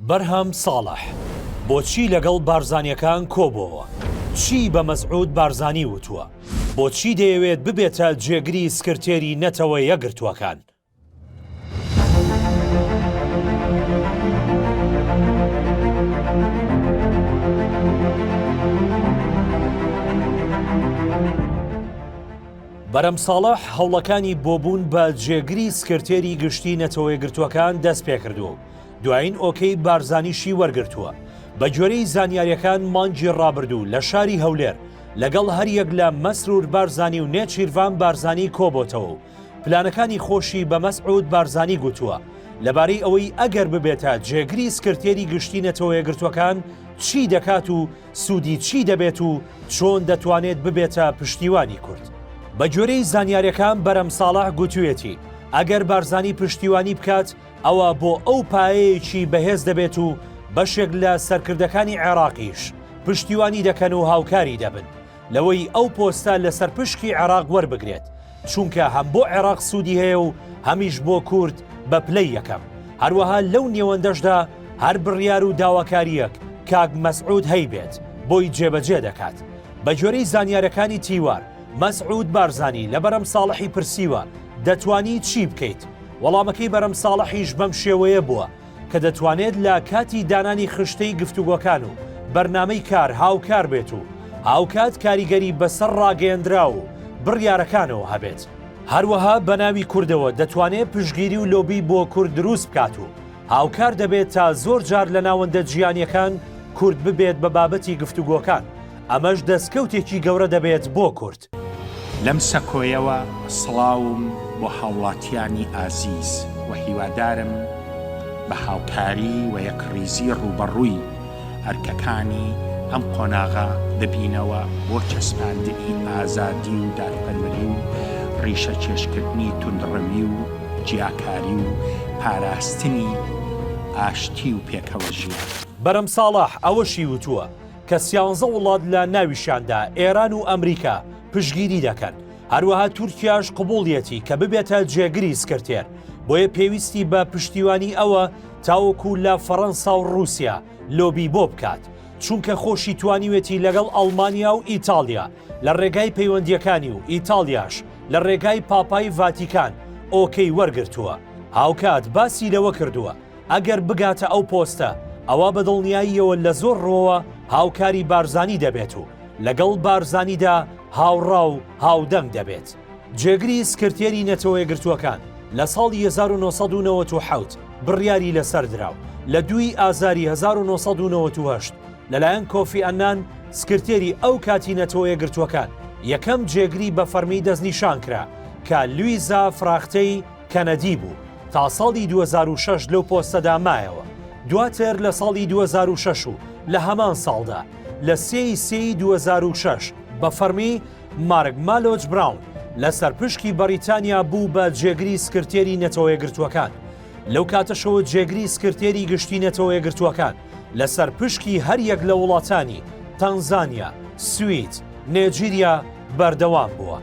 بەرهەم ساڵح، بۆچی لەگەڵ بارزانیەکان کۆبۆوە؟ چی بە مەسعود بارزانی وتووە؟ بۆچی دەیەوێت ببێتە جێگری سکرتێری نەتەوە یەکگرتووەکان؟ بەرەم ساڵح هەوڵەکانی بۆ بوون بە جێگری سکرتێری گشتی نەتەوەیەکگرتووەکان دەستپێکردووە و، دوایین ئۆکەی بارزانیشی وەرگرتووە. بەگوێرەی زانیارییەکان مانگی ڕابردوو لە شاری هەولێر لەگەڵ هەریەک لە مەسرور بارزانی و نێچیرڤان بارزانی کۆبۆتەوە و پلانەکانی خۆشی بە مەسعود بارزانی گوتووە لەبارەی ئەوەی ئەگەر ببێتە جێگری سکرتێری گشتی نەتەوەیەگرتووەکان چی دەکات و سوودی چی دەبێت و چۆن دەتوانێت ببێتە پشتیوانی کورد. بە گوێرەی زانیاریەکان بەرەم ساڵح گوتوویەتی ئەگەر بارزانی پشتیوانی بکات ئەوا بۆ ئەو پایەیەکی بەهێز دەبێت و بەشێک لە سەرکردەکانی عێراقیش پشتیوانی دەکەن و هاوکاری دەبن لەوەی ئەو پۆستە لەسەر پشکی عێراق وەربگرێت چونکە هەم بۆ عێراق سوودی هەیە و هەمیش بۆ کورد بە پلەی یەکەم هەروەها لەو نێوەندەشدا هەر بڕیار و داواکاریەک کاک مەسعود هەیبێت بۆی جێبەجێ دەکات بە گوێرەی زانیارەکانی تیوار مەسعود بارزانی لە بەرەم ساڵحی پرسیوە دەتوانی چی بکەیت وەڵامەکەی بەرەم ساڵحیش بەم شێوەیە بووە کە دەتوانێت لە کاتی دانانی خشتەی گفتوگۆکان و بەرنامەی کار هاوکار بێت و هاوکات کاریگەری بەسەر ڕاگەیەندراو و بڕیارەکانەوە هەبێت. هەروەها بە ناوی کوردەوە دەتوانێت پشتگیری و لۆبی بۆ کورد دروست بکات و هاوکار دەبێت تا زۆر جار لە ناوەندە جیهانییەکان کورد ببێت بە بابەتی گفتوگۆکان، ئەمەش دەستکەوتێکی گەورە دەبێت بۆ کورد. دەکات. لەم سەکۆیەوە سڵاوم بۆ هاوڵاتیانی ئازیز و هیوادارم بە هاوکاری و یەکڕیزی ڕووبەڕووی ئەرکەکانی ئەم قۆناغە ببینەوە بۆ چەسپاندنی ئازادی و دادپەروەری و ڕیشەکێشکردنی توندڕەوی و جیاکاری و پاراستنی ئاشتی و پێکەوەژیان. بەرەم ساڵح ئەوەشی وتووە، کە سیانزە وڵات لە ناویشیاندا ئێران و ئەمریکا پشگیری دەکەن هەروەها تورکیاش قوبوڵیەتی کە ببێتە جێگری سکرتێر بۆیە پێویستی بە پشتیوانی ئەوە تاوەکو لە فەڕەنسا و رووسیا لۆبی بۆ بکات چونکە خۆشی توانیوێتی لەگەڵ ئەڵمانیا و ئیتالیا لە ڕێگای پەیوەندیەکانی و ئیتالیاش لە ڕێگای پاپای ڤاتیکان ئۆکەی وەرگرتووە هاوکات باسی لەوە کردووە ئەگەر بگاتە ئەو پۆستە، ئەوا بە دڵنیاییەوە لە زۆر ڕووەوە هاوکاری بارزانی دەبێت و لەگەڵ بارزانیدا هاوڕا و هاودەنگ دەبێت. جێگری سکرتێری نەتەوەیەکگرتووەکان لە ساڵی هەزار و نۆ سەد و نەوەت و حەوت بڕیاری لەسەر درا و لە دووی ئازاری هەزار و نۆ سەد و نەوەت و هەشت لەلایەن کۆفی ئەنان سکرتێری ئەو کاتی نەتەوەیەکگرتووەکان یەکەم جێگری بە فەرمی دەستنیشان کرا کە لویزا فراختەی کەنەدی بوو، تا ساڵی دوو هەزار و شەش لەو پۆستەدا مایەوە، دواتر لە ساڵی دوو هەزار و شەش و لە هەمان ساڵدا، لە سێ ی سێ ی دوو هەزار و شەش، بە فەڕمی، مارک مالۆچ براون، لە سەرپشکی بەڕیتانیا بوو بە جێگری سکرتێری نەتەوەیەکگرتووەکان، لەو کاتەشەوە جێگری سکرتێری گشتی نەتەوەیەکگرتووەکان، لە سەرپشکی هەر یەک لە وڵاتانی، تەنزانیا، سوید، نێجیریا، بەردەوام بووە.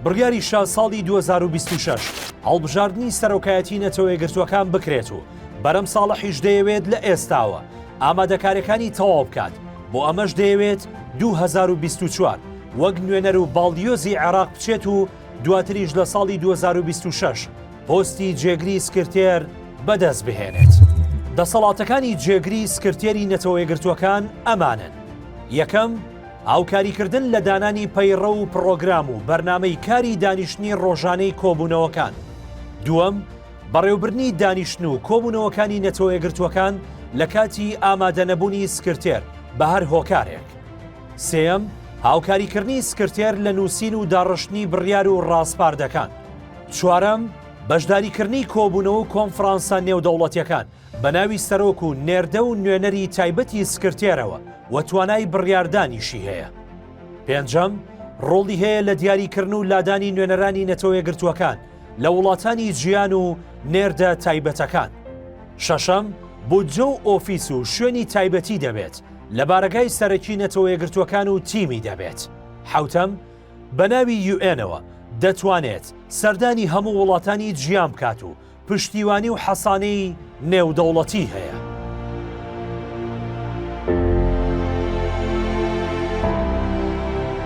بڕیاری شا ساڵی دوو هەزار و بیست و شەش هەڵبژاردنی سەرۆکایەتی نەتەوە یەکگرتووەکان بکرێت و بەرەم ساڵحیش دەیەوێت لە ئێستاوە ئامادەکاریەکانی تەواو بکات بۆ ئەمەش دەیەوێت دوو هەزار و بیست و چوار وەک نوێنەر و باڵیۆزی عێراق بچێت و دواتریش لە ساڵی دوو هەزار و بیست و شەش پۆستی جێگری سکرتێر بەدەست بهێنێت. دەسەڵاتەکانی جێگری سکرتێری نەتەوە یەکگرتووەکان ئەمانن، یەکەم، هاوکاریکردن لە دانانی پەیڕەو و پڕۆگرام و بەرنامەی کاری دانیشتنی ڕۆژانەی کۆبوونەوەکان. دووەم، بەڕێوبردنی دانیشتن و کۆبوونەوەکانی نەتەوەیەکگرتووەکان لە کاتی ئامادەنەبوونی سکرتێر بە هەر هۆکارێک. سێیەم، هاوکاریکردنی سکرتێر لە نووسین و داڕشتنی بڕیار و ڕاسپاردەکان. چوارەم، بەشداریکردنی کۆبوونەوە و کۆنفرانسە نێودەوڵەتییەکان بەناوی سەرۆک و نێردە و نوێنەری تایبەتی سکرتێرەوە و توانای بڕیاردانیشی هەیە. پێنجەم، ڕۆڵی هەیە لە دیاریکردن و لادانی نوێنەرانی نەتەوەیەکگرتووەکان لە وڵاتانی جیان و نێردە تایبەتەکان. شەشەم، بودجە و ئۆفیس و شوێنی تایبەتی دەبێت لە بارەگای سەرەکی نەتەوەیەکگرتووەکان و تیمی دەبێت. حەوتەم، بەناوی یوئێنەوە دەتوانێت سەردانی هەموو وڵاتانی جیان بکات و پشتیوانی و حەسانەی نێودەوڵەتی هەیە.